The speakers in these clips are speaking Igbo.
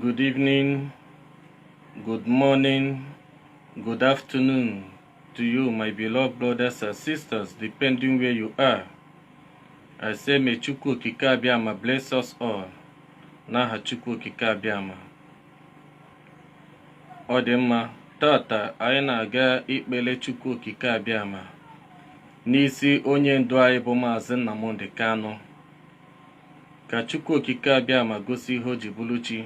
Good evening, good morning, good afternoon to you, my beloved brothers and sisters, depending where you are. I say, may Chukwu Okike Abịama bless us all. N'aha Chukwu Okike Abịama. Ọ dị mma, taata anyị na-aga ikpele Chukwu Okike Abịama n'isi onye ndu anyị bụ Maazị Nnamdi Kanu. ka Chukwu Okike Abịama gosi ihe o ji bụrụ chi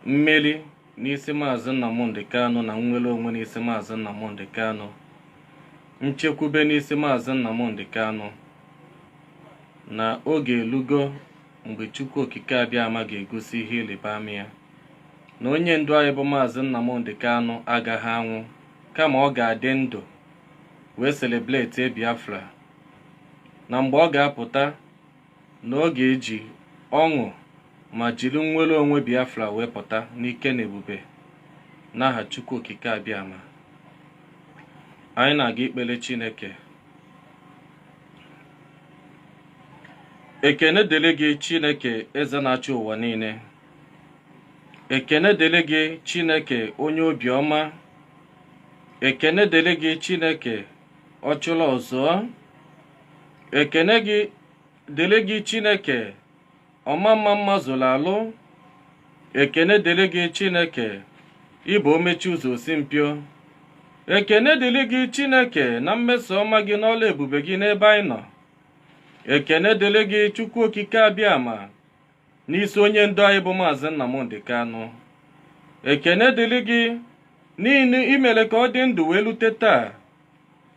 mmeri n'isi Maazị Nnamdi Kanu na nnwere onwe n'isi Maazị Nnamdi Kanu nchekwube n'isi Maazị Nnamdi Kanu na oge elugo mgbe Chukwu Okike Abịama ga-egosi ihe ịrịba ama ya na onye ndu anyị bụ Maazị Nnamdi Kanu agaghị anwụ kama ọ ga-adị ndụ wee celebrate Biafra na mgbe ọ ga-apụta na ọ ga-eji ọṅụ ma jiri nnwere onwe Biafra wee pụta n'ike na ebube n'aha Chukwu Okike Abịama anyị na-aga ikpele Chineke ekene dịrị gị Chineke eze na-achị ụwa niile ekene dịrị gị Chineke onye obiọma ekene dịrị gị Chineke ọchụla ọzọ ekene gị dịrị gị chineke ọma mma mma zuru alụ ekene dịrị gị chineke ị bụ o mechi ụzọ o si mpio ekene dịrị gị chineke na mmeso ọma gị n'ọlụ ebube gị n'ebe anyị nọ ekene dịrị gị chukwu okike abịama n'isi onye ndu anyị bụ maazị Nnamdi Kanu ekene dịrị gị n'ihi na i mere ka ọ dị ndụ wee lute taa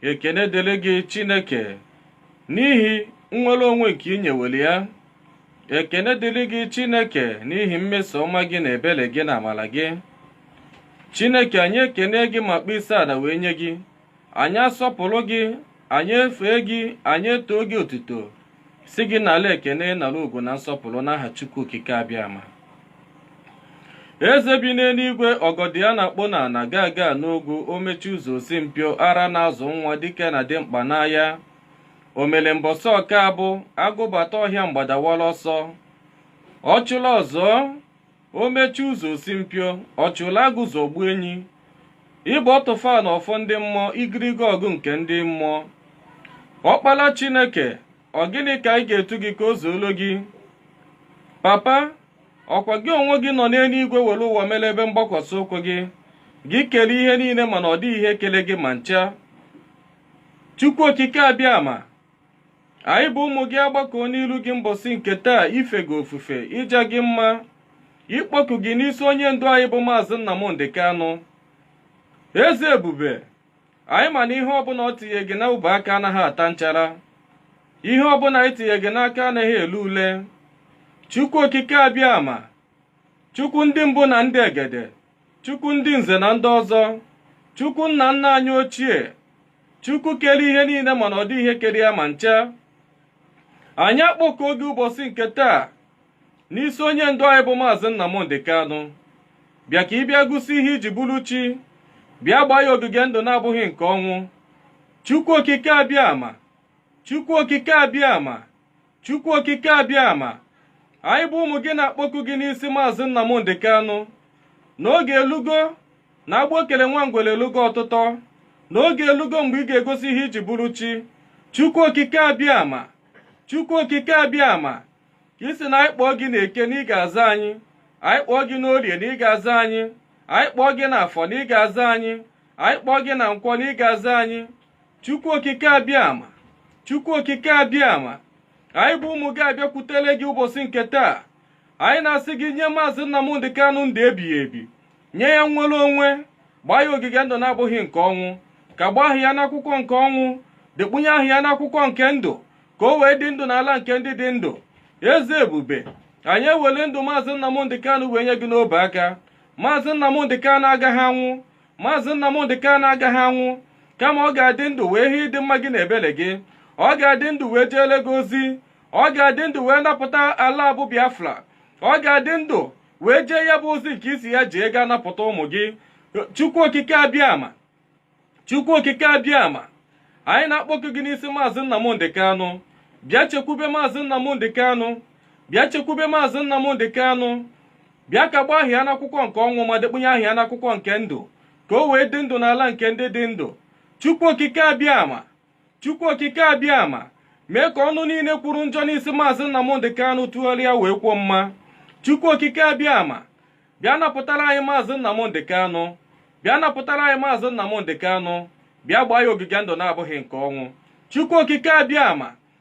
ekene dịrị gị Chineke n'ihi nnwere onwe nke i nyewere ya ekene dịrị gị Chineke n'ihi mmeso ọma gị na ebere gị na amara gị Chineke anyị ekene gị ma kpọọ isi ala wee nye gị anyị asọpụrụ gị anyị efee gị anyị etoo gị otuto sị gị nala ekene nara ugwu na nsọpụrụ n'aha chukwu okike abịama eze bi n'eluigwe ọgọdọ ya na-akpụ n'ana gaga n'ogwu o mechi ụzọ o si mpio ara na-azụ nwa dike na dimkpa n'aya omele mbọsị ọka abụ agụ bata ọhịa mgbada awara ọsọ ọchụla ọzọ o mechi ụzọ o si mpio ọchụla agụzọ gbuo enyi ị bụ ọtụfa na ọfọ ndị mmụọ igirigi ọgụ nke ndị mmụọ ọkpala chineke ọ gịnị ka anyị ga-etu gị ka o zuolo gị papa ọ kwa gị onwe gị nọ n'eluigwe were ụwa mere ebe mgbakwasị ụkwụ gị gị kere ihe niile mana ọ dịghị ihe kele gị ma ncha chukwu okike abịama anyị bụ ụmụ gị agbakọọ n'iru gị mbọsị nke taa ife gị ofufe ịja gị mma ịkpọku gị n'isi onye ndu anyị bụ maazị Nnamdị Kanụ eze ebube anyị ma na ihe ọbụla o tinye gị n'ọbụ aka anaghị ata nchara ihe ọbụla anyị tinye gị n'aka anaghị ele ule chukwu okike abịama chukwu ndị mbụ na ndị egede chukwu ndị nze na ndị ọzọ chukwu nna nna anyị ochie chukwu kere ihe niile mana ọ dị ihe kere ya ma ncha anyị akpọkuo gị ụbọsị nke taa n'isi onye ndu anyị bụ maazị Nnamdị Kanụ bịa ka ị bịa gosi ihe i ji bụrụ chi bịa gbaa ya ogige ndụ na-abụghị nke ọnwụ chukwu okike abịama chukwu okike abịama Chukwu okike abịama anyị bụ ụmụ gị na-akpọku gị n'isi maazị Nnamdị Kanụ na oge elugo na agbụ e kele nwa ngwere elugo ọtụtọ na oge elugo mgbe ị ga-egosi ihe i ji bụrụ chi Chukwu okike abịama Chukwu okike abịama ka ị sị na anyị kpọọ gị na eke na ị ga-aza anyị anyị kpọọ gị n'orie na ị ga-aza anyị anyị kpọọ gị na afọ na ị ga-aza anyị anyị kpọọ gị na nkwọ na ị ga-aza anyị Chukwu okike abịama Chukwu okike abịama anyị bụ ụmụ gị abịakwutele gị ụbọsị nke taa anyị na-asị gị nye maazị Nnamdị Kanụ ndụ ebighị ebi nye ya nnwere onwe gbaa ya ogige ndụ na-abụghị nke ọnwụ kagbuo aha ya n'akwụkwọ nke ọnwụ dekpunye aha ya n'akwụkwọ nke ndụ ka o wee dị ndụ n'ala nke ndị dị ndụ eze ebube anyị ewele ndụ maazị Nnamdị Kanụ wee nye gị n'obe aka maazị Nnamdị Kanụ agaghị anwụ maazị nnamdị kanụ agaghị anwụ kama ọ ga-adị ndụ wee hụ ịdị mma gị na ebere gị ọ ga-adị ndụ wee jeele gị ozi ọ ga-adị ndụ wee napụta ala a bụ biafra ọ ga-adị ndụ wee jee ya bụ ozi nke ị sị ya jee gaa napụta ụmụ gị chukwu okike abịama chukwu okike abịama anyị na-akpọku gị n'isi maazị nnamdị kanụ bịa chekwube maazị nnamdị kanụ bịa chekwube maazị nnamdị kanụ bịa kagbuo aha ya n'akwụkwọ nke ọnwụ ma dekpunye aha ya n'akwụkwọ nke ndụ ka o wee dị ndụ n'ala nke ndị dị ndụ chukwu okike abịama chukwu okike abịama mee ka ọnụ niile kwuru njọ n'isi maazị Nnamdị Kanụ tụgharịa wee kwuo mma chukwu okike abịama bịa napụtara anyị maazị Nnamdị Kanụ bịa napụtara anyị maazị Nnamdị Kanụ bịa gbaa ya ogige ndụ na-abụghị nke ọnwụ chukwu okike abịama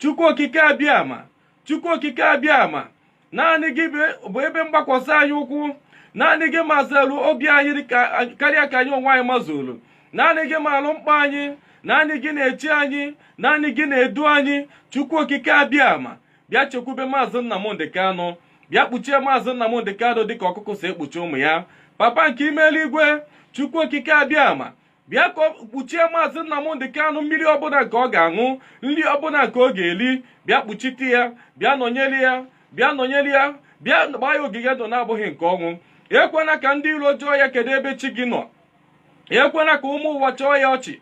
chukwu okike abịama chukwu okike abịama naanị gị bụ ebe mgbakwasị anyị ụkwụ naanị gị mazuru obi anyị karịa ka anyị onwe anyị mazuru naanị gị maalụ mkpa anyị naanị gị na-eche anyị naanị gị na-edu anyị chukwu okike abịama bịa chekwube maazị Nnamdị Kanụ bịa kpuchie maazị Nnamdị Kanụ dịka ọkụkọ si ekpuchi ụmụ ya papa nke ime eluigwe chukwu okike abịama bịa ka kpuchie maazị Nnamdị Kanụ mmiri ọbụla nke ọ ga-aṅụ nri ọbụla nke ọ ga-eri bịa kpuchite ya bịa nọnyere ya bịa nọnyere ya bịa gbaa ya ogige ndụ na-abụghị nke ọnwụ ekwena ka ndị iro jụọ ya kedu ebe chi gị nọ ekwena ka ụmụ ụwa chịa ya ọchị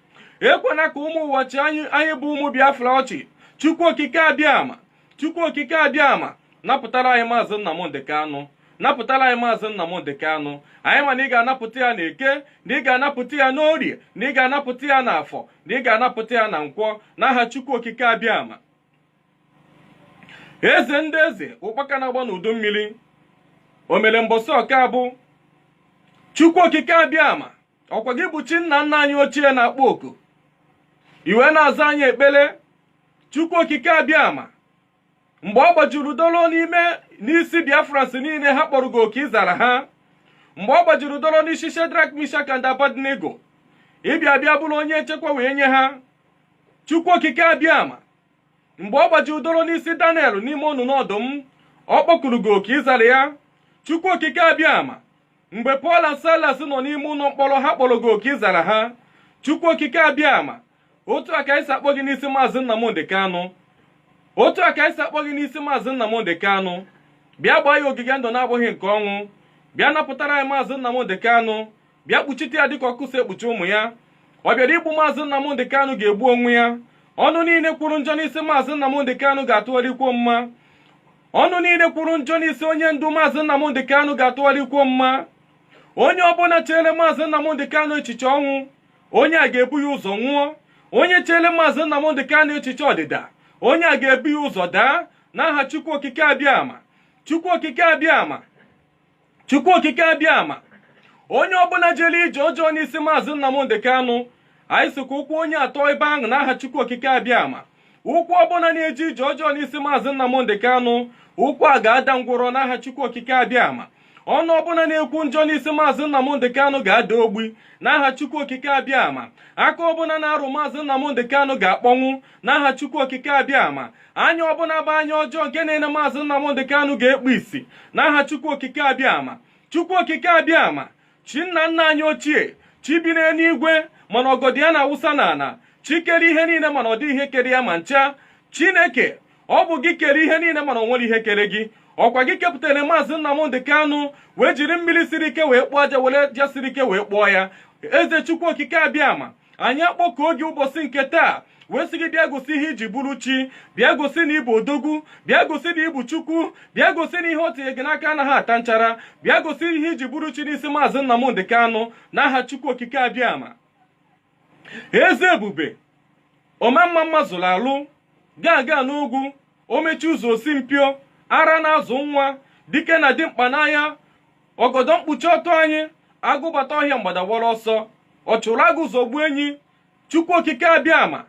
ekwena ka ụmụ ụwa chịa anyị bụ ụmụ Biafra ọchị Chukwu okike abịama chukwu okike abịama napụtara anyị maazị nnamdị kanụ napụtara anyị maazị nnamdị kanụ anyị ma na ị ga-anapụta ya na eke na ị ga-anapụta ya n'orie na ị ga-anapụta ya na afọ na ị ga-anapụta ya na nkwọ n'aha chukwu okike abịama eze ndị eze ụkpaka na-agba n'udu mmiri o mere mbọsị ọka abụ chukwu okike abịama ọkwa gị bụ chi nna nna anyị ochie na-akpọ oku i wee na-aza anyị ekpere chukwu okike abịama mgbe ọ gbajuru dolo n'ime n'isi biafrans niile ha kpọrọ gị oku ị zara ha mgbe ọ gbajuru dolo n'isi shedrak mishak and abednego ị bịa bịa bụrụ onye nchekwa wee nye ha chukwu okike abịama mgbe ọ gbajuru doro n'isi daniel n'ime onunu ọdụm ọ kpọkuru gị oku ị zara ya chukwu okike abịama mgbe pọl na silas nọ n'ime ụlọ mkpọrọ ha kpọrọ gị oku ị zara ha chukwu okike abịama otu a ka anyị si akpọ gị n'isi maazị Nnamdị Kanụ otu a ka anyị si akpọ gị n'isi maazị Nnamdị Kanụ bịa gbaa ya ogige ndụ na-abụghị nke ọnwụ bịa napụtara anyị maazị Nnamdị Kanụ bịa kpuchite ya dịka ọkụkọ si ekpuchi ụmụ ya ọ bịara igbu maazị Nnamdị Kanụ ga-egbu onwe ya ọnụ niile kwuru njọ n'isi maazị Nnamdị Kanụ ga-atụgharị kwuo mma ọnụ niile kwuru njọ n'isi onye ndu maazị Nnamdị Kanụ ga-atụgharị kwuo mma onye ọbụla chere maazị Nnamdị Kanụ echiche ọnwụ onye a ga-ebu ya ụzọ nwụọ onye chere maazị Nnamdị Kanụ echiche ọdịda onye a ga-ebu ya ụzọ daa n'aha Chukwu Okike Abịama Chukwu Okike Abịama Chukwu Okike Abịama onye ọbụla jere ije ọjọọ n'isi maazị Nnamdị Kanụ anyị sị ka ụkwụ onye a tọ ebe ahụ n'aha Chukwu Okike Abịama ụkwụ ọbụla na-eje ije ọjọọ n'isi maazị Nnamdị Kanụ ụkwụ a ga-ada ngwọrọ n'aha Chukwu Okike abịama ọnụ ọbụla na-ekwu njọ n'isi maazị Nnamdị Kanụ ga-ada ogbi n'aha Chukwu Okike abịama aka ọbụla na-arụ maazị Nnamdị Kanụ ga-akpọnwụ n'aha Chukwu Okike abịama anya ọbụla bụ anya ọjọọ nke na-ene maazị Nnamdị Kanụ ga-ekpu isi n'aha Chukwu Okike abịama Chukwu Okike abịama chi nna nna anyị ochie chi bi n'eluigwe mana ọgọdọ ya na-awụsa n'ala chi kere ihe niile mana ọ dịghị ihe kere ya ma ncha chineke ọ bụ gị kere ihe niile mana o nwerọ ihe kere gị ọkwa gị kepụtara maazị Nnamdị Kanụ wee jiri mmiri siri ike wee kpụọ aja were aja siri ike wee kpụọ ya eze chukwu okike abịama anyị akpọkuo gị ụbọchị nke taa wee sị gị bịa gosi ihe i ji bụrụ chi bịa gosi na ị bụ odogwu bịa gosi na ị bụ chukwu bịa gosi na ihe o tinye gị n'aka anaghị ata nchara bịa gosi ihe i ji bụrụ chi n'isi maazị Nnamdị Kanụ n'aha chukwu okike abịama eze ebube omemma mma zuru alụ gaga n'ogwu omechi ụzọ osi mpio ara na-azụ nwa dike na dimkpa n'aya ọgọdọ mkpuchi ọtọ anyị agụ bata ọhịa mgbada awara ọsọ ọ chụrụ agụ zọgbu enyi chukwu okike abịama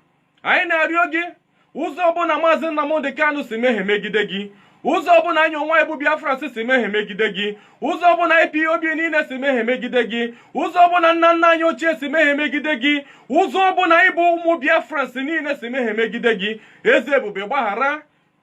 anyị na-arịọ gị ụzọ ọbụla maazị Nnamdị Kanụ si mehie megide gị ụzọ ọbụla anyị onwe anyị bụ Biafrans si mehie megide gị ụzọ ọbụla IPOB niile si mehie megide gị ụzọ ọbụla nna nna anyị ochie si mehie megide gị ụzọ ọbụla anyị bụ ụmụ Biafrans niile si mehie megide gị eze ebube gbaghara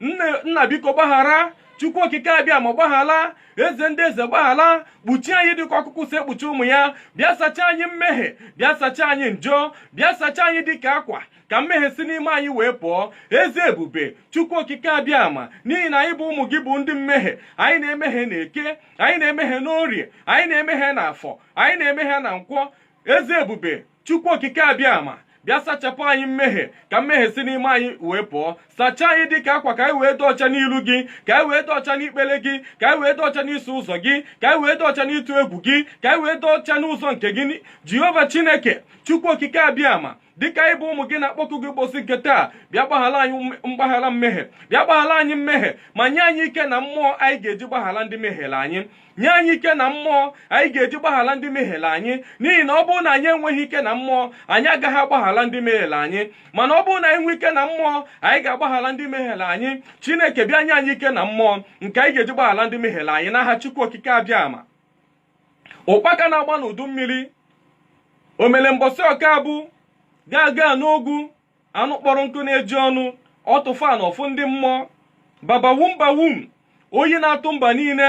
nna biko gbaghara chukwu okike abịama gbaghala eze ndị eze gbaghala kpuchie anyị dịka ọkụkụ si ekpuchi ụmụ ya bịa sachaa anyị mmehie bịa sachaa anyị njọ bịa sachaa anyị dịka akwa ka mmehie si n'ime anyị wee pụọ eze ebube chukwu okike abịama n'ihi na anyị bụ ụmụ gị bụ ndị mmehie anyị na-emehie na eke anyị na-emehie n'orie anyị na-emehie na afọ anyị na-emehie na nkwọ eze ebube chukwu okike abịama bịa sachapụ anyị mmehie ka mmehie si n'ime anyị wee pụọ sachaa anyị dịka akwa ka anyị wee dị ọcha n'ilu gị ka anyị wee dị ọcha n'ikpere gị ka anyị wee dị ọcha n'iso ụzọ gị ka anyị wee dị ọcha n'ịtụ egwu gị ka anyị wee dị ọcha n'ụzọ nke gị jehova chineke chukwu okike abịama dịka anyị bụ ụmụ gị na-akpọku gị ụbọchị nke taa bịa gbaghara anyị mgbaghara mmehie bịa gbaghara anyị mmehie ma nye anyị ike na mmụọ anyị ga-eji gbaghara ndị mehiere anyị nye anyị ike na mmụọ anyị ga-eji gbaghara ndị mehiere anyị n'ihi na ọ bụrụ na anyị enweghị ike na mmụọ anyị agaghị agbaghara ndị mehiere anyị mana ọ bụrụ na anyị nwee ike na mmụọ anyị ga-agbaghara ndị mehiere anyị chineke bịa nye anyị ike na mmụọ nke anyị ga-eji gbaghara ndị mehiere anyị n'aha chukwu okike abịama ụkpaka na-agba n'udu mmiri omele mbọsị ọka abụ gaga n'ogwu anụ kpọrọ nkụ na-eju ọnụ ọtụfa na ọfụ ndị mmụọ babawum bawum oyi na-atụ mba niile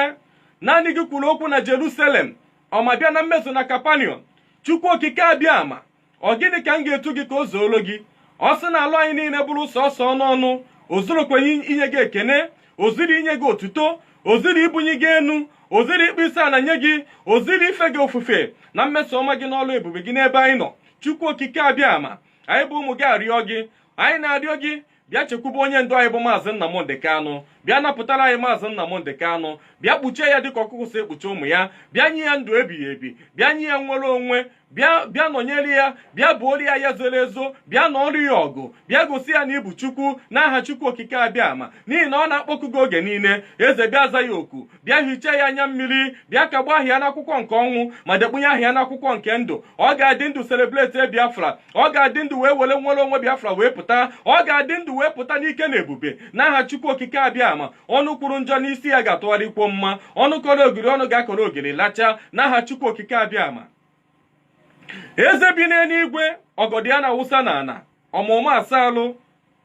naanị gị kwuru okwu na jerusalem ọ ma bịa na mmezu na capernaum chukwu okike abịama ọ gịnị ka m ga-etu gị ka o zuoro gị ọ sị na alụ anyị niile bụrụ sọsọ ọnụ ọnụ o zurukwanụ inye gị ekene o zuru inye gị otuto o zuru ibunye gị enu o zuru ịkpọ isi ala nye gị o zuru ife gị ofufe na mmeso ọma gị n'ọlụ ebube gị n'ebe anyị nọ chukwu okike abịama anyị bụ ụmụ gị arịọ gị anyị na-arịọ gị bịa chekwube onye ndu anyị bụ maazị Nnamdị Kanụ bịa napụtara anyị maazị Nnamdị Kanụ bịa kpuchie ya dịka ọkụkụ si ekpuchi ụmụ ya bịa nye ya ndụ ebighị ebi bịa nye ya nnwere onwe bịa nọnyere ya bịa buolu ya ya zoro ezo bịa nụọrọ ya ọgụ bịa gosi ya na ị bụ Chukwu n'aha Chukwu okike abịama n'ihi na ọ na-akpọku gị oge niile eze bịa za ya oku bịa hichaa ya anya mmiri bịa kagbuo aha ya n'akwụkwọ nke ọnwụ ma dekpunye aha ya n'akwụkwọ nke ndụ ọ ga-adị ndụ celebrate biafra ọ ga-adị ndụ wee were nnwere onwe biafra wee pụta ọ ga-adị ndụ wee pụta n'ike na ebube n'aha chukwu okike abịama ọnụ kwuru njọ n'isi ya ga-atụgharị kwuo mma ọnụ kọrọ ogiri ọnụ ga-akọrọ ogiri lachaa n'aha chukwu okike abịama eze bi n'eluigwe ogodo ya na-awụsa n'ala ọma mma asa arụ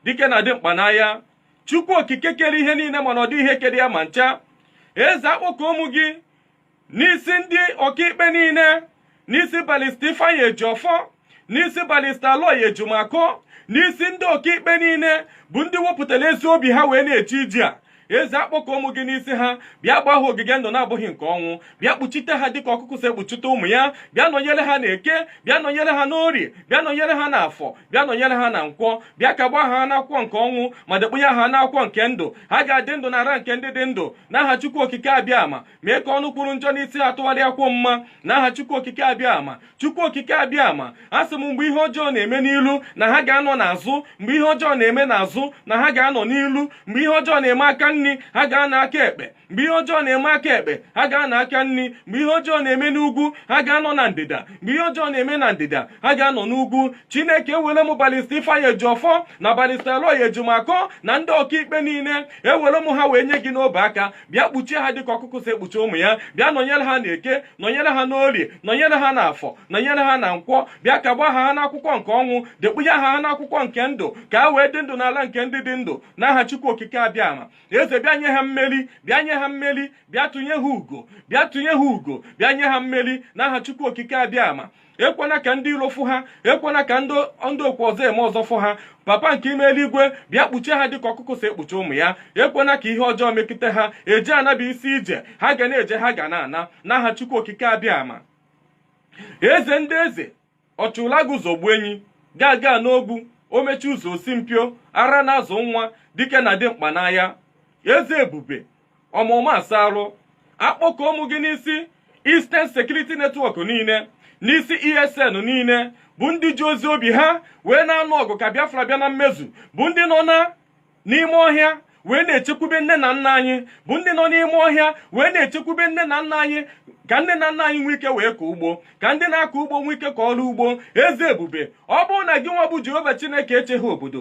dike na dimkpa n'agha chukwu okike kere ihe niile mana ọ dịghị ihe kere ya ma ncha eze akpọkuo m gị n'isi ndị ọkaikpe niile n'isi barrister ifeanyi ejiofor n'isi barrister aloy ejimakor n'isi ndị ọkaikpe niile bụ ndị wepụtara ezi obi ha wee na-eje ije a eze akpọkuo m gị n'isi ha bịa gbaa ha ogige ndụ na-abụghị nke ọnwụ bịa kpuchite ha dịka ọkụkụ si ekpuchite ụmụ ya bịa nọnyere ha n'eke bịa nọnyere ha n'orie bịa nọnyere ha n'afọ bịa nọnyere ha na nkwọ bịa kagbuo aha ha n'akwụkwọ nke ọnwụ ma dekpunye aha ha n'akwụkwọ nke ndụ ha ga-adị ndụ n'ala nke ndị dị ndụ n'aha Chukwu Okike abịama mee ka ọnụ kwuru njọ n'isi ha tụgharịa kwuo mma n'aha chukwu okike abịa ma chukwu okike abịa ma a sị m mgbe ihe ọjọọ na-eme n'ilu na ha ga-anọ n'azụ mgbe ihe ọjọọ na-eme n'azụ na ha ga-anọ n'ilu mgbe ihe ọjọọ na-eme aka nri ha ga-anọ aka ekpe mgbe ihe ọjọọ na-eme aka ekpe ha ga-anọ aka nri mgbe ihe ọjọọ na-eme n'ugwu ha ga-anọ na ndịda mgbe ihe ọjọọ na-eme na ndịda ha ga-anọ n'ugwu chineke ewere m barrister ifeanyi ejiofor na barrister aloy ejimakor na ndị ọkaikpe niile ewere m ha wee nye gị n'ọbụ aka bịa kpuchie ha dịka ọkụkụ si ekpuchi ụmụ ya bịa nọnyere ha n'eke nọnyere ha n'orie nọnyere ha n'afọ nọnyere ha na nkwọ bịa kagbuo aha ha n'akwụkwọ nke ọnwụ dekpunye aha ha n'akwụkwọ nke ndụ ka ha wee dị ndụ n'ala nke ndị dị ndụ n'aha Chukwu Okike abịama eze bịa nye ha mmeri bịa nye ha mmeri bịa tụnye ha ugo bịa tụnye ha ugo bịa nye ha mmeri n'aha Chukwu Okike abịama ekwena ka ndị iro fụ ha ekwena ka ndị okwu ọzọ eme ọzọ fụ ha papa nke ime eluigwe bịa kpuchie ha dịka ọkụkọ si ekpuchi ụmụ ya ekwena ka ihe ọjọọ mekịta ha eje ana bụ isi ije ha ga na-eje ha ga na-ana n'aha chukwu okike abịama eze ndị eze ọchụlaga zọgbuo enyi gaga n'ogwu omechi ụzọ osi mpio ara na-azụ nwa dike na dimkpa n'agha eze ebube ọma mma asa arụ akpọkuo m gị n'isi Eastern Security Network niile n'isi ESN niile bụ ndị ji ezi obi ha wee na-anụ ọgụ ka Biafra bịa na mmezu bụ ndị nọ na n'ime ọhịa wee na-echekwube nne na nna anyị bụ ndị nọ n'ime ọhịa wee na-echekwube nne na nna anyị ka nne na nna anyị nwee ike wee kọọ ugbo ka ndị na-akọ ugbo nwee ike kọrọ ugbo eze ebube ọ bụrụ na gị nwa bụ jehova chineke echeghị obodo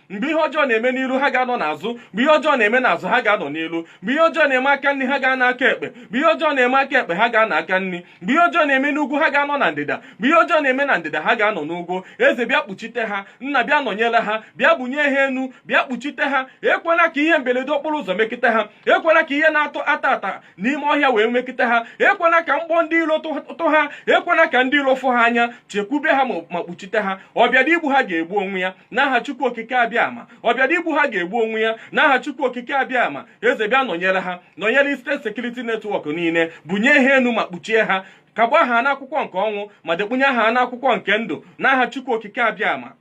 mgbe ihe ọjọọ na-eme n'iru ha ga-anọ n'azụ mgbe ihe ọjọọ na-eme n'azụ ha ga-anọ n'iru mgbe ihe ọjọọ na-eme aka nri ha ga-anọ aka ekpe mgbe ihe ọjọọ na-eme aka ekpe ha ga-anọ aka nri mgbe ihe ọjọọ na-eme n'ugwu ha ga-anọ na ndịda mgbe ihe ọjọọ na-eme na ndịda ha ga-anọ n'ugwu eze bịa kpuchite ha nna bịa nọnyere ha bịa bunye ha enu bịa kpuchite ha ekwela ka ihe mberede okporo ụzọ mekịta ha ekwela ka ihe na-ata ata ata n'ime ọhịa wee mekịta ha ekwela ka mgbọ ndị iro tụ ha ekwela ka ndị iro fụ ha anya chekwube ha ma kpuchite ha ọ bịara igbu ha ga-egbu onwe ya n'aha chukwu okike abịama ọ bịara igbu ha ga-egbu onwe ya n'aha chukwu okike abịama eze bịa nọnyere ha nọnyere eastern security network niile bunye ha enu ma kpuchie ha kagbuo ha n'akwụkwọ nke ọnwụ ma dekpunye ha n'akwụkwọ nke ndụ n'aha chukwu okike abịama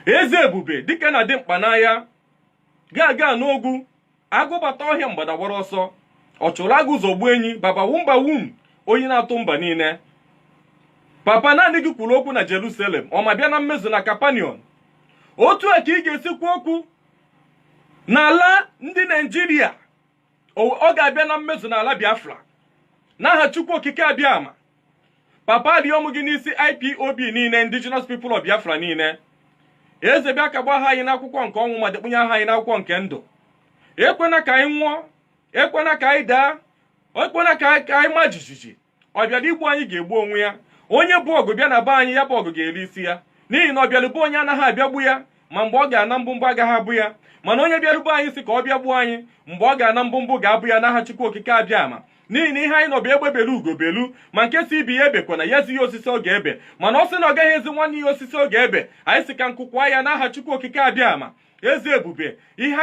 eze ebube dike na dimkpa n'agha gaga n'ogwu agụ bata ọhịa mgbada awara ọsọ ọ chụrụ agụ zọgbuo enyi baba wumba wum onye na-atụ mba niile papa naanị gị kwuru okwu na jerusalem ọ ma bịa na mmezu na capernaum otu a ka ị ga-esi kwuo okwu n'ala ndị naijiria ọ ga-abịa na mmezu n'ala biafra n'aha chukwu okike abịama papa arịọ m gị n'isi ipob niile indigenous people of biafra niile eze bịa kagbuo aha anyị n'akwụkwọ nke ọnwụ ma dekpunye aha anyị n'akwụkwọ nke ndụ ekwena ka anyị nwụọ ekwena ka anyị daa ekwena ka anyị- ka anyị ma jijiji ọ bịara igbu anyị ga-egbu onwe ya onye bu ọgụ bịa na be anyị ya bụ ọgụ ga-eri isi ya n'ihi na ọ bịara be onye anaghị abịagbu ya ma mgbe ọ ga-ana mkpumkpu agaghị apụ ya mana onye bịaru be anyị si ka ọ bịa gbuo anyị mgbe ọ ga-ana mkpumkpu ga-apụ ya n'aha chukwu okike abịama n'ihi na ihe anyị nọ bụ egbe belu ugo belu ma nke si ibe ya ebekwana ya zi ya osisi ọ ga-ebe mana ọ sị na ọ gaghị ezi nwanne ya osisi ọ ga-ebe anyị si ka nku kwaa ya n'aha chukwu okike abịama eze ebube ihe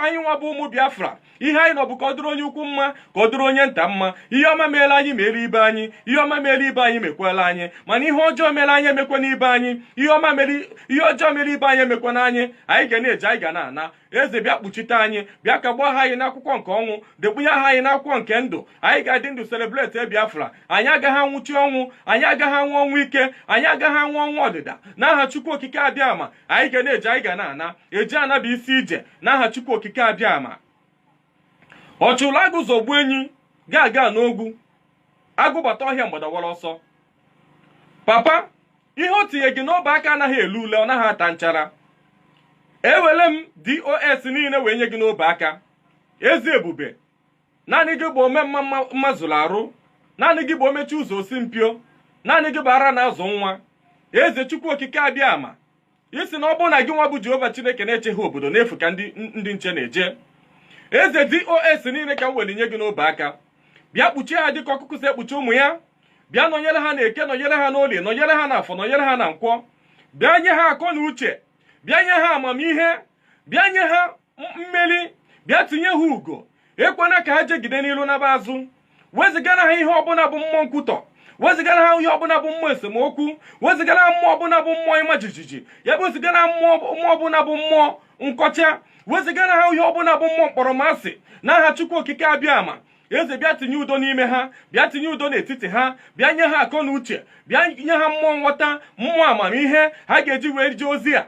anyị nwa bụ ụmụ biafra ihe anyị nọ bụ ka ọ dịrị onye ukwu mma ka ọ dịrị onye nta mma ihe ọma meela anyị mere ibe anyị ihe ọma mere ibe anyị mekwala anyị mana ihe ọjọọ mere anyị emekwana ibe anyị ihe ọma mere ihe ọjọọ mere ibe anyị emekwana anyị anyị ga na-eje anyị ga na-ana eze bịa kpuchite anyị bịa kagbuo aha anyị n'akwụkwọ nke ọnwụ dekpunye aha anyị n'akwụkwọ nke ndụ anyị ga-adị ndụ celebrate Biafra anyị agaghị anwụchi ọnwụ anyị agaghị anwụ ọnwụ ike anyị agaghị anwụ ọnwụ ọdịda n'aha Chukwu Okike Abịama anyị ga na-eje anyị ga na-ana eje ana bụ isi ije n'aha Chukwu Okike Abịama ọ chụlụ agụ zọgbuo enyi gaga n'ogwu agụ bata ọhịa mgbada awara ọsọ papa ihe o tinye gị n'ọbụ aka anaghị ele ule ọ naghị ata nchara ewere m dos niile wee nye gị n'ọbụ aka eze ebube naanị gị bụ ome mma mma- mma zuru arụ naanị gị bụ omechi ụzọ o si mpio naanị gị bụ ara na-azụ nwa eze chukwu okike abịama ị sị na ọ bụrụ na gị nwa bụ jehova chineke na-echeghị obodo n'efu ka ndị nche na-eche eze dos niile ka m were nye gị n'ọbụ aka bịa kpuchie ha dịka ọkụkụ si ekpuchi ụmụ ya bịa nọnyere ha na eke nọnyere ha n'olie nọnyere ha na afọ nọnyere ha na nkwọ bịa nye ha akọ na uche bịa nye ha amamihe bịa nye ha mmeri bịa tinye ha ugo ekwena ka ha jegide n'ilu naba azụ wezigara ha ihe ọbụla bụ mmụọ nkwutọ wezigara ha ihe ọbụla bụ mmụọ esemokwu wezigara ha mmụọ ọbụla bụ mmụọ ịma jijiji ya bụ wezigara mmụọ ọbụla bụ mmụọ nkọcha wezigara ha ihe ọbụla bụ mmụọ mkpọrọmasị n'aha chukwu okike abịama eze bịa tinye udo n'ime ha bịa tinye udo n'etiti ha bịa nye ha akọ na uche bịa nye ha mmụọ nghọta mmụọ amamihe ha ga-eji wee jee ozi ha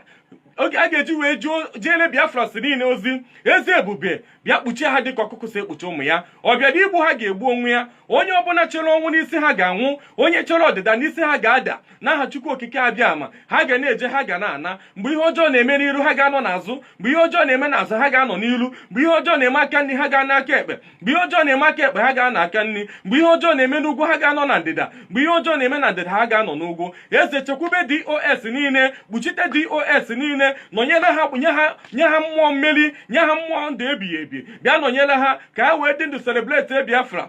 ga-eji wee jeere biafrans niile ozi eze ebube bịa kpuchie ha dịka ọkụkụ si ekpuchi ụmụ ya ọ bịara igbu ha ga-egbu onwe ya onye ọbụla chere ọnwụ n'isi ha ga-anwụ onye chere ọdịda n'isi ha ga-ada n'aha chukwu okike abịama ha ga na-eje ha ga na-ana mgbe ihe ọjọọ na-eme n'iru ha ga-anọ n'azụ mgbe ihe ọjọọ na-eme n'azụ ha ga-anọ n'iru mgbe ihe ọjọọ na-eme aka nri ha ga-anọ aka ekpe mgbe ihe ọjọọ na-eme aka ekpe ha ga-anọ aka nri mgbe ihe ọjọọ na-eme n'ugwu ha ga-anọ na ndịda mgbe ihe ọjọọ na-eme na ndịda ha ga-anọ n'ugwu eze chekwube dos niile kpuchite dos niile nọnyere ha nye ha mmụọ mmeri nye ha mmụọ ndụ ebighị ebi bịa nọnyere ha ka ha wee dị ndụ celebrate biafra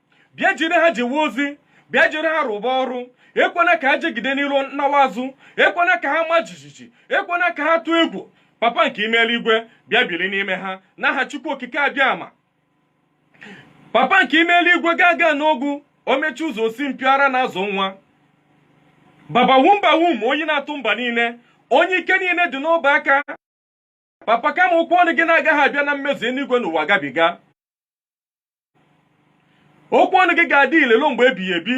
bịa jiri ha jewe ozi bịa jiri ha rụba ọrụ ekwena ka ha jegide n'iru nawa azụ ekwena ka ha maa jijiji ekwena ka ha tụọ egwu papa nke ime eluigwe bịa biri n'ime ha n'aha chukwu okike abịama papa nke ime eluigwe gaga n'ogwu omechi ụzọ osi mpio ara na-azụ nwa baba wumba wum oyi na-atụ mba niile onye ike niile dị n'ọbụ aka papa kama okwu ọnụ gị na-agaghị abịa na mmezu eluigwe na ụwa gabiga okwu ọnụ gị ga-adị ile luo mgbe ebighị ebi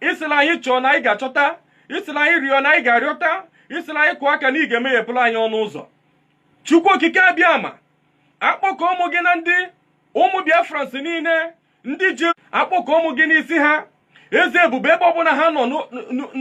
ị sịla anyị chọọ na anyị ga-achọta ị sịla anyị rịọ na anyị ga-arịọta ị sịla anyị kụọ aka na ị ga-emeghepụrụ anyị ọnụ ụzọ chukwu okike abịama akpọkuo mụ gị na ndị ụmụ biafrans niile ndị gị akpọkuo mụ gị n'isi ha eze ebube ebe ọbụla ha nọ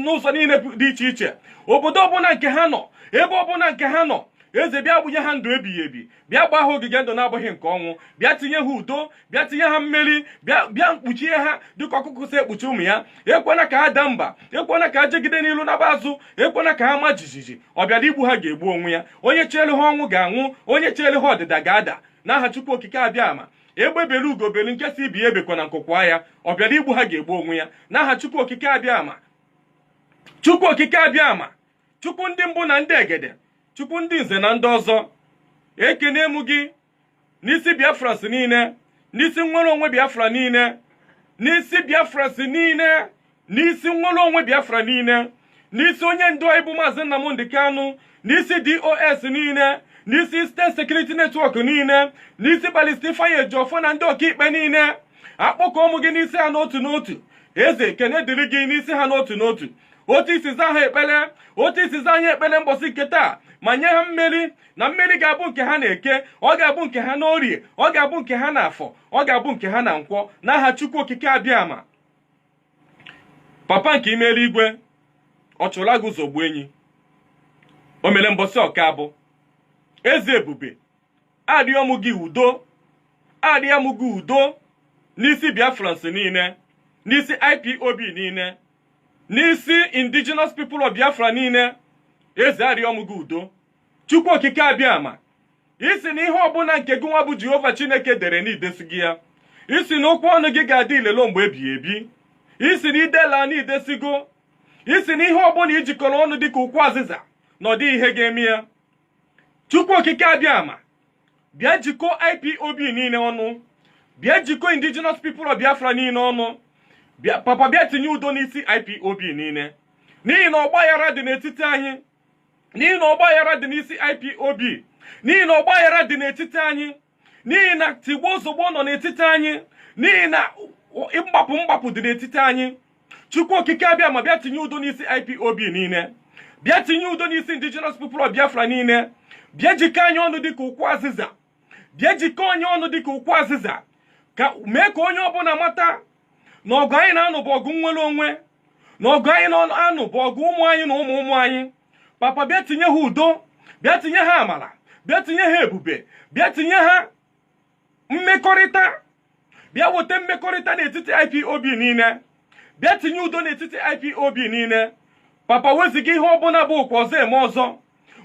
n'ụzọ niile dị iche iche obodo ọbụla nke ha nọ ebe ọbụla nke ha nọ eze bịa bunye ha ndụ ebighị ebi bịa gbaa ha ogige ndụ na-abụghị nke ọnwụ bịa tinye ha udo bịa tinye ha mmeri bịa kpuchie ha dịka ọkụkụ si ekpuchi ụmụ ya ekwena ka ha daa mba ekwena ka ha jegide n'ilu naba azụ ekwena ka ha maa jijiji ọ bịara igbu ha ga-egbu onwe ya onye cheelu ha ọnwụ ga-anwụ onye cheelu ha ọdịda ga-ada n'aha Chukwu okike abịama egbe belu ugo belu nke sị ibe ya ebekwana nku kwaa ya ọ bịara igbu ha ga-egbu onwe ya n'aha chukwu okike abịama chukwu okike abịama chukwu ndị mbụ na ndị egede chukwu ndị nze na ndị ọzọ ekene m gị n'isi biafrans niile n'isi nnwere onwe biafra niile n'isi biafrans niile n'isi nnwere onwe biafra niile n'isi onye ndu anyị bụ maazị nnamdị kanụ n'isi dos niile n'isi eastern security network niile n'isi balista ifeanyị ejiọfọ na ndị ọkaikpe niile akpọkuo mụ gị n'isi ha n'otu n'otu eze ekene dịrị gị n'isi ha n'otu n'otu otu i si za ha ekpere otu i si za ha ekpere mbọsị nke taa ma nye ha mmeri na mmeri ga-abụ nke ha n'eke ọ ga-abụ nke ha n'orie ọ ga-abụ nke ha n'afọ ọ ga-abụ nke ha na nkwọ n'aha chukwu okike abịama papa nke ime eluigwe ọ chụla gị ụzọ gbuo enyi o mere mbọsị ọka abụ eze ebube arịọ mụ gị udo arịọ mụ gị udo n'isi biafrans niile n'isi ipob niile n'isi indigenous people of biafra niile eze arịọ mụ gị udo chukwu okike abịama ị sị na ihe ọbụla nke gị nwa bụ jehova chineke dere na i desigo ya ị sị na okwu ọnụ gị ga-adị ile luo mgbe ebighị ebi ị sị na i dela na i desigo ị sị na ihe ọbụla i jikọrọ ọnụ dị ka ukwu azịza na ọ dịghị ihe ga-eme ya chukwu okike abịama bịa jikọ ipob niile ọnụ bịa jikọ indigenous people of biafra niile ọnụ papa bịa tinye udo n'isi ipob niile n'ihi na ọgbaghara dị n'etiti anyị n'ihi na ọgbaghara dị n'isi ipob n'ihi na ọgbaghara dị n'etiti anyị n'ihi na tigbuo zọgbuo nọ n'etiti anyị n'ihi na mgbapụ mgbapụ dị n'etiti anyị chukwu okike abịama bịa tinye udo n'isi ipob niile bịa tinye udo n'isi indigenous people of biafra niile bịa jikọ anyị ọnụ dịka ukwu azịza bịa jikọ anyị ọnụ dịka ukwu azịza ka mee ka onye ọbụla mata na ọgụ anyị na-anụ bụ ọgụ nnwere onwe na ọgụ anyị na-anụ bụ ọgụ ụmụ anyị na ụmụ ụmụ anyị papa bịa tinye ha udo bịa tinye ha amala bịa tinye ha ebube bịa tinye ha mmekọrịta bịa weta mmekọrịta n'etiti ipob niile bịa tinye udo n'etiti ipob niile papa weziga ihe ọbụla bụ okwu ọzọ eme ọzọ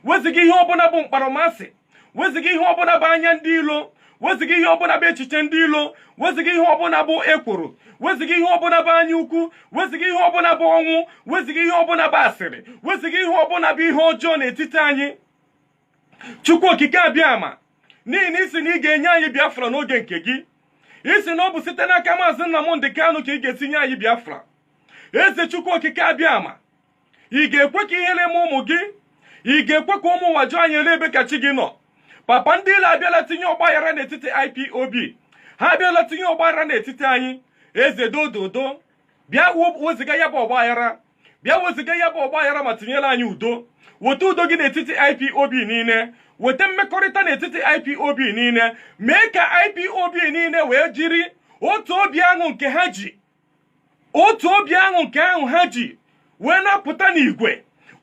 weziga ihe ọbụla bụ mkpọrọmasị weziga ihe ọbụla bụ anya ndị ilo weziga ihe ọbụla bụ echiche ndị ilo weziga ihe ọbụla bụ ekworo weziga ihe ọbụla bụ anya ukwu weziga ihe ọbụla bụ ọnwụ weziga ihe ọbụla bụ asịrị weziga ihe ọbụla bụ ihe ọjọọ n'etiti anyị chukwu okike abịama n'ihi na ị sị na ị ga-enye anyị biafra n'oge nke gị ị sị na ọ bụ site n'aka maazị Nnamdị Kanụ ka ị ga-esi nye anyị biafra eze chukwu okike abịama ị ga-ekwe ka ihele mee ụmụ gị ị ga-ekwe ka ụmụ ụwa jụọ anyị elee ebe ka chi gị nọ papa ndị ilo abịala tinye ọgbaghara n'etiti ipob ha abịala tinye ọgbaghara n'etiti anyị eze dododo bịa weziga ya bụ ọgbaghara bịa weziga ya bụ ọgbaghara ma tinyere anyị udo weta udo gị n'etiti ipob niile weta mmekọrịta n'etiti ipob niile mee ka ipob niile wee jiri otu obi ahụ nke ha ji otu obi ahụ nke ahụ ha ji wee na-apụta n'igwe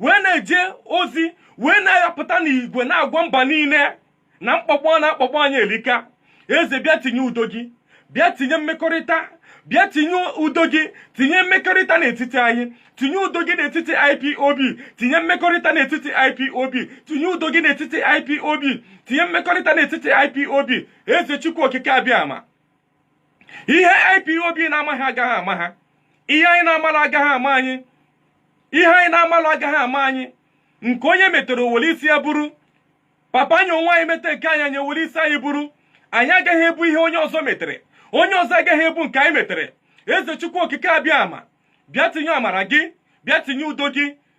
wee na-eje ozi wee na-apụta n'igwe na-agwa mba niile na mkpọkpọ na-akpọkpọ anyị elika eze bịa tinye udo gị bịa tinye mmekọrịta bịa tinye udo gị tinye mmekọrịta n'etiti anyị tinye udo gị n'etiti ipob tinye mmekọrịta n'etiti ipob tinye udo gị n'etiti ipob tinye mmekọrịta n'etiti ipob eze chukwu okike abịama ihe IPOB na-amaghị agaghị ama ha ihe anyị na-amalụ agaghị ama anyị ihe anyị na-amalụ agaghị ama anyị nke onye metere o were isi ya buru papa anyị onwe anyị mete nke anyị anyị ewere isi anyị buru anyị agaghị ebu ihe onye ọzọ metere onye ọzọ agaghị ebu nke anyị metere eze chukwu okike abịama bịa tinye amara gị bịa tinye udo gị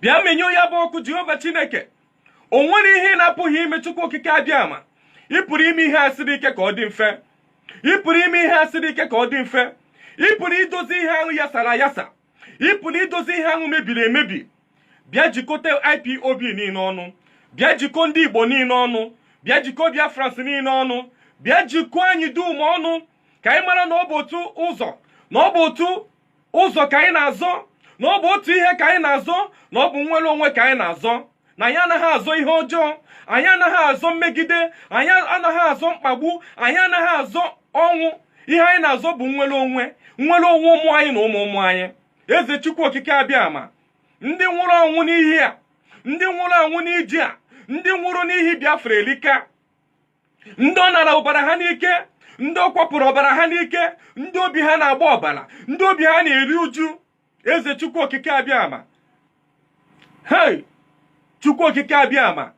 bịa menyụọ ya bụ ọkụ jehova chineke o nwere ihe ị na-apụghị ime chukwu okike abịama ị pụrụ ime ihe a siri ike ka ọ dị mfe ị pụrụ ime ihe a siri ike ka ọ dị mfe ị pụrụ idozi ihe ahụ yasara ayasa ị pụrụ idozi ihe ahụ mebiri emebi bịa jikọta ipob niile ọnụ bịa jikọọ ndị igbo niile ọnụ bịa jikọọ biafrans niile ọnụ bịa jikọọ anyị dum ọnụ ka anyị mara na ọ bụ otu ụzọ na ọ bụ otu ụzọ ka anyị na-azọ na ọ bụ otu ihe ka anyị na-azọ na ọ bụ nnwere onwe ka anyị na-azọ na anyị anaghị azọ ihe ọjọọ anyị anaghị azọ mmegide anyị anaghị azọ mkpagbu anyị anaghị azọ ọnwụ ihe anyị na-azọ bụ nnwere onwe nnwere onwe ụmụ anyị na ụmụ ụmụ anyị eze chukwu okike abịama ndị nwụrụ anwụ n'ihi a ndị nwụrụ anwụ n'iji a ndị nwụrụ n'ihi biafra elika ndị ọ nara ọbara ha n'ike ndị ọ kwapụrụ ọbara ha n'ike ndị obi ha na-agba ọbara ndị obi ha na-eri uju eze chukwu okike abịama hei chukwu okike abịama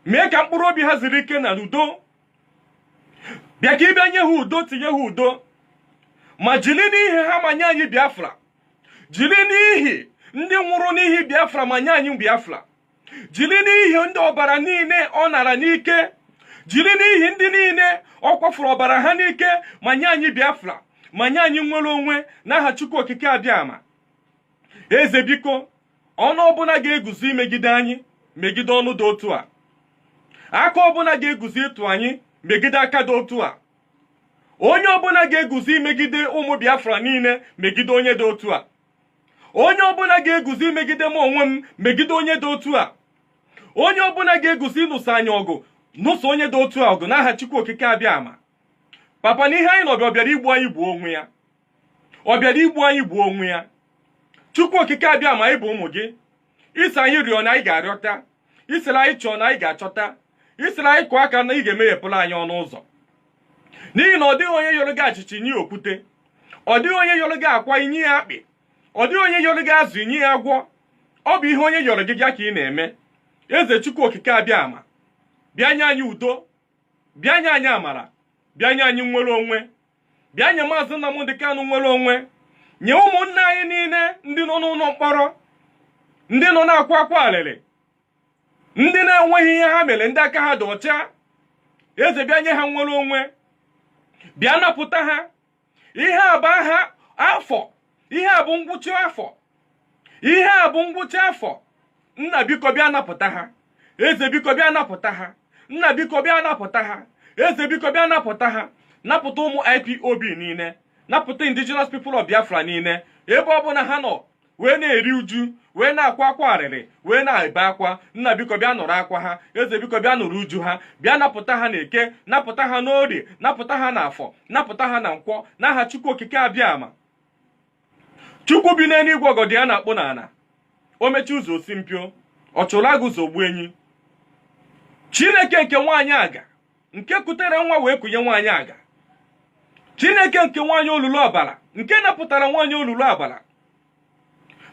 mee ka mkpụrụ obi ha zuru ike na udo bịa ka ị bịa nye ha udo tinye ha udo ma jiri n'ihi ha ma nye anyị biafra jiri n'ihi ndị nwụrụ n'ihi biafra ma nye anyị biafra jiri n'ihi ndị ọbara niile ọ nara n'ike jiri n'ihi ndị niile ọ kwafuru ọbara ha n'ike ma nye anyị biafra ma nye anyị nnwere onwe n'aha chukwu okike abịama eze biko ọnụ ọbụla ga-eguzo imegide anyị megide ọnụ dị otu a aka ọbụla ga-eguzo ịtụ anyị megide aka dị otu a onye ọbụla ga-eguzo imegide ụmụ biafra niile megide onye dị otu a onye ọbụla ga-eguzo imegide m onwe m megide onye dị otu a onye ọbụla ga-eguzo ịnụso anyị ọgụ nụso onye dị otu a ọgụ n'aha Chukwu Okike Abịama papa na ihe anyị nọ bịa ọ bịara igbu anyị gbuo onwe ya ọ bịara igbu anyị gbuo onwe ya Chukwu Okike Abịama anyị bụ ụmụ gị ị sị anyị rịọ na anyị ga-arịọta ị sịrị anyị chọọ na anyị ga-achọta ị sịrị anyị kụọ aka na ị ga-emeghepụrụ anyị ọnụ ụzọ n'ihi na ọ dịghị onye yọrọ gị achịcha i nye ya okwute ọ dịghị onye yọrọ gị akwa i nye ya akpị ọ dịghị onye yọrọ gị azụ i nye ya agwọ ọ bụ ihe onye yọrọ gị ya ka ị na-eme eze chukwu okike abịa ama bịa nye anyị udo bịa nye anyị amara bịa nye anyị nnwere onwe bịa nye maazị Nnamdi Kanu nnwere onwe nye ụmụnne anyị niile ndị nọ n'ụlọ mkpọrọ ndị nọ na-akwa akwa alịrị ndị na-enweghị ihe ha mere ndị aka ha dị ọcha eze bịa nye ha nnwere onwe bịa napụta ha ihe a bụ aha afọ ihe a bụ ngwụcha afọ ihe a bụ ngwụcha afọ nna biko bịa napụta ha eze biko bịa napụta ha nna biko bịa napụta ha eze biko bịa napụta ha napụta ụmụ ipob niile napụta indigenous people of biafra niile ebe ọ bụla ha nọ wee na-eri uju wee na-akwa akwa arịrị wee na-ebe akwa nna biko bịa nụrụ akwa ha eze biko bịa nụrụ uju ha bịa napụta ha na eke napụta ha n'orie napụta ha na afọ napụta ha na nkwọ n'aha chukwu okike abịa ama chukwu bi n'eluigwe ọgọdọ ya na-akpụ n'ala o mechi ụzọ o si mpio ọ chụrụ agụ zogbu enyi chineke nke nwaanyị aga nke kutere nwa wee kunye nwaanyị aga chineke nke nwaanyị olulu ọbara nke napụtara nwaanyị olulu ọbara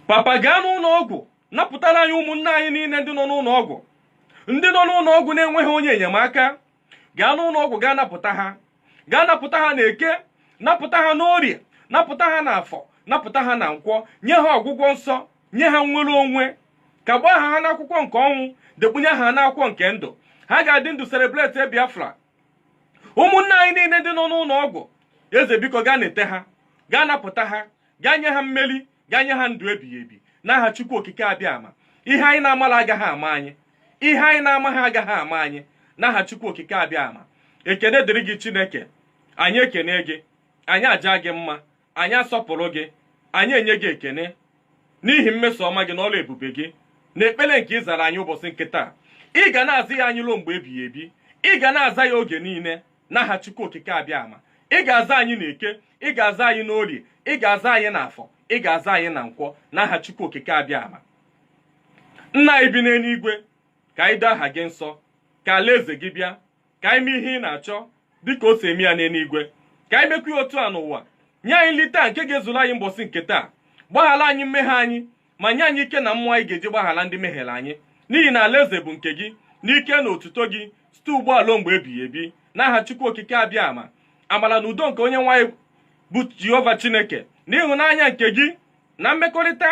papa gaa n'ụlọ ọgwụ napụtara anyị ụmụnne anyị niile ndị nọ n'ụlọ ọgwụ ndị nọ n'ụlọ ọgwụ na-enweghị onye enyemaka gaa n'ụlọ ọgwụ gaa napụta ha gaa napụta ha na eke napụta ha n'orie napụta ha na afọ napụta ha na nkwọ nye ha ọgwụgwọ nsọ nye ha nnwere onwe kagbuo aha ha n'akwụkwọ nke ọnwụ dekpunye aha ha n'akwụkwọ nke ndụ ha ga-adị ndụ celebrate biafra ụmụnne anyị niile ndị nọ n'ụlọ ọgwụ eze biko gaa nete ha gaa napụta ha gaa nye ha mmeri gaa nye ha ndụ ebighị ebi n'aha chukwu okike abịa ama ihe anyị na-amala agaghị ama anyị ihe anyị na-amaghị agaghị ama anyị n'aha chukwu okike abịa ama ekene dịrị gị chineke anyị ekene gị anyị aja gị mma anyị asọpụrụ gị anyị enye gị ekene n'ihi mmeso ọma gị na ọrụ ebube gị na ekpere nke ị zara anyị ụbọchị nke taa ị ga na-aza ya anyị ruo mgbe ebighị ebi ị ga na-aza ya oge niile n'aha Chukwu okike abịa ama ị ga-aza anyị na eke ị ga-aza anyị n'orie ị ga-aza anyị na afọ ị ga-aza anyị na nkwọ n'aha Chukwu okike abịa ama nna anyị bi n'eluigwe ka anyị doo aha gị nsọ ka alaeze gị bịa ka anyị mee ihe ị na-achọ dịka o si eme ya n'eluigwe ka anyị mekwa ya otu a n'ụwa nye anyị nri taa nke ga-ezuru anyị mbọsị nke taa gbaghara anyị mmehie anyị ma nye anyị ike na mmụọ anyị ga-eji gbaghara ndị mehiere anyị n'ihi na alaeze bụ nke gị na ike na otuto gị site ugbu a ruo mgbe ebighị ebi n'aha chukwu okike abịa ama amara na udo nke onyenwe anyị bụ jehova chineke na ịhụnanya nke gị na mmekọrịta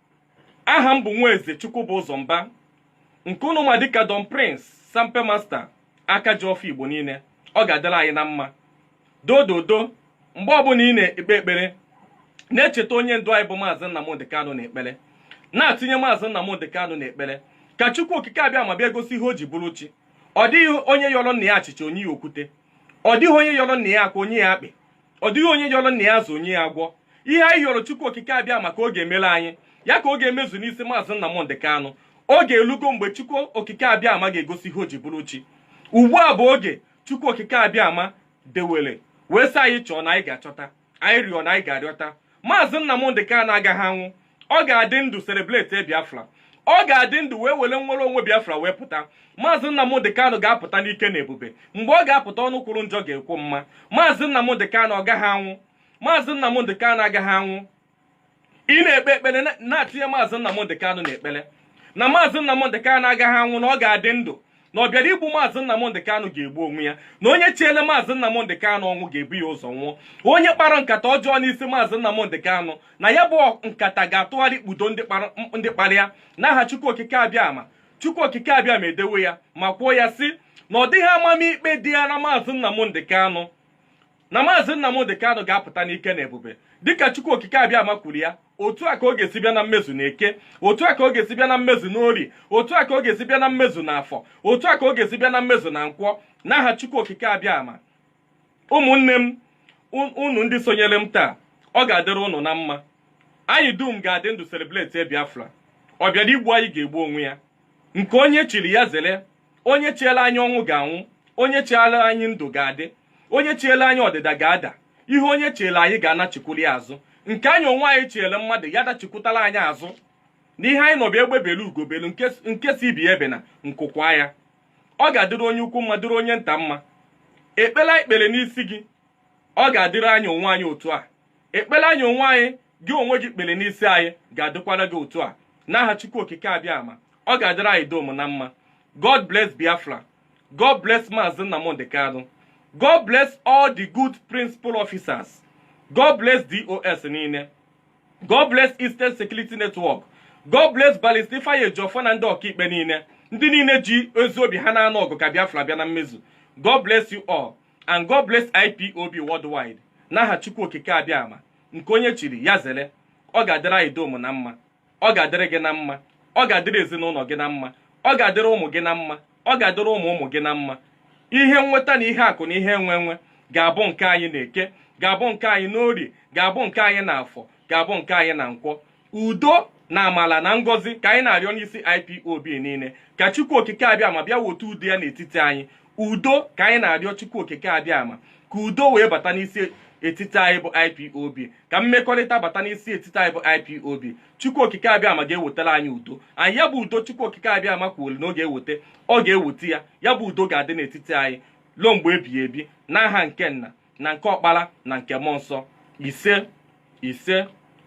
aha m bụ Nwaeze Chukwubụzọ Mba nke unu ma dịka Don Prince Sampe Master aka ji ọfọ Igbo niile ọ ga-adịrị anyị na mma dododo mgbe ọbụla ị na-ekpe ekpere na-echeta onye ndu anyị bụ maazị Nnamdị Kanụ n'ekpere na-atinye maazị Nnamdị Kanụ n'ekpere ka Chukwu okike Abịama bịa gosi ihe o ji bụrụ chi ọ dịghị onye yọrọ nna ya achịcha o nye ya okwute ọ dịghị onye yọrọ nna ya akwa o nye ya akpị ọ dịghị onye yọrọ nna ya azụ o nye ya agwọ ihe anyị yọrọ chukwu okike abịama ka ọ ga-emere anyị ya ka ọ ga-emezu n'isi maazị Nnamdị Kanụ oge elugo mgbe chukwu okike abịama ga-egosi ihe o ji bụrụ chi ugbu a bụ oge chukwu okike abịama dewere wee sị anyị chọọ na anyị ga-achọta anyị rịọ na anyị ga-arịọta maazị Nnamdị Kanụ agaghị anwụ ọ ga-adị ndụ celebrate Biafra ọ ga-adị ndụ wee were nnwere onwe Biafra wee pụta maazị Nnamdị Kanụ ga-apụta n'ike na ebube mgbe ọ ga-apụta ọnụ kwuru njọ ga-ekwu mma maazị Nnamdị Kanụ ọ gaghị anwụ maazị Nnamdị Kanụ agaghị anwụ ị na-ekpe ekpere na-atinye maazị Nnamdị Kanụ n'ekpere na maazị Nnamdị Kanụ agaghị anwụ na ọ ga-adị ndụ na ọ bịara igbu maazị Nnamdị Kanụ ga-egbu onwe ya na onye chiele maazị Nnamdị Kanụ ọnwụ ga-ebu ya ụzọ nwụọ onye kpara nkata ọjọọ n'isi maazị Nnamdị Kanụ na ya bụ nkata ga-atụgharị kpudo ndị kpara ya n'aha Chukwu Okike Abịama Chukwu Okike Abịama edewe ya ma kwuo ya sị na ọ dịghị amamikpe dịrị maazị Nnamdị Kanụ na maazị Nnamdị Kanụ ga-apụta n'ike na ebube dịka Chukwu Okike Abịama kwuru ya otu a ka ọ ga-esi bịa na mmezu na eke otu a ka ọ ga-esi bịa na mmezu n'orie otu a ka ọ ga-esi bịa na mmezu na afọ otu a ka ọ ga-esi bịa na mmezu na nkwọ n'aha Chukwu Okike Abịama ụmụnne m unu ndị sonyere m taa ọ ga-adịrị ụnụ na mma anyị dum ga-adị ndụ celebrate Biafra ọ bịara igbu anyị ga-egbu onwe ya nke onye chiri ya zere onye chiele anyị ọnwụ ga-anwụ onye chiele anyị ndụ ga-adị onye chiele anyị ọdịda ga-ada ihe onye chiele anyị ga-anachikwuru ya azụ nke anyị onwe anyị chiele mmadụ ya dachikwutala anyị azụ na ihe anyị nọ bụ egbe belu ugo belu nke sị ibe ya ebena nku kwaa ya ọ ga-adịrị onye ukwu mma dịrị onye nta mma ekpere anyị kpere n'isi gị ọ ga-adịrị anyị onwe anyị otu a ekpere anyị onwe anyị gị onwe gị kpere n'isi anyị ga-adịkwara gị otu a n'aha chukwu okike abịama ọ ga-adịrị anyị dum na mma god bless biafra god bless maazị nnamdị kanụ god bless all the good principal officers god bless dos niile god bless eastern security network god bless barrister ifeanyi ejiofor na ndị ọkaikpe niile ndị niile ji ezi obi ha na-anụ ọgụ ka biafra bịa na mmezu god bless you all and God bless IPOB worldwide n'aha Chukwu Okike Abịama nke onye chiri ya zere ọ ga-adịrị anyị dum na mma ọ ga-adịrị gị na mma ọ ga-adịrị ezinụlọ gị na mma ọ ga-adịrị ụmụ gị na mma ọ ga-adịrị ụmụ ụmụ gị na mma ihe nweta na ihe akụ na ihe enwe enwe ga-abụ nke anyị na eke ga-abụ nke anyị n'orie ga-abụ nke anyị na afọ ga-abụ nke anyị na nkwọ udo na amala na ngọzi ka anyị na-arịọ n'isi IPOB niile ka Chukwu Okike Abịama bịa wote udo ya n'etiti anyị udo ka anyị na-arịọ Chukwu Okike Abịama ka udo wee bata n'isi etiti anyị bụ IPOB ka mmekọrịta bata n'isi etiti anyị bụ IPOB Chukwu Okike Abịama ga-ewetara anyị udo anyị ya bụ udo Chukwu Okike Abịama kwuolu na ọ ga-eweta ọ ga-eweta ya ya bụ udo ga-adị n'etiti anyị ruo mgbe ebighị ebi n'aha nke nna na nke ọkpara na nke mmụọ nsọ ise ise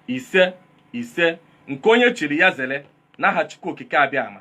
ise ise nke onye chiri ya zere n'aha chukwu okike abịama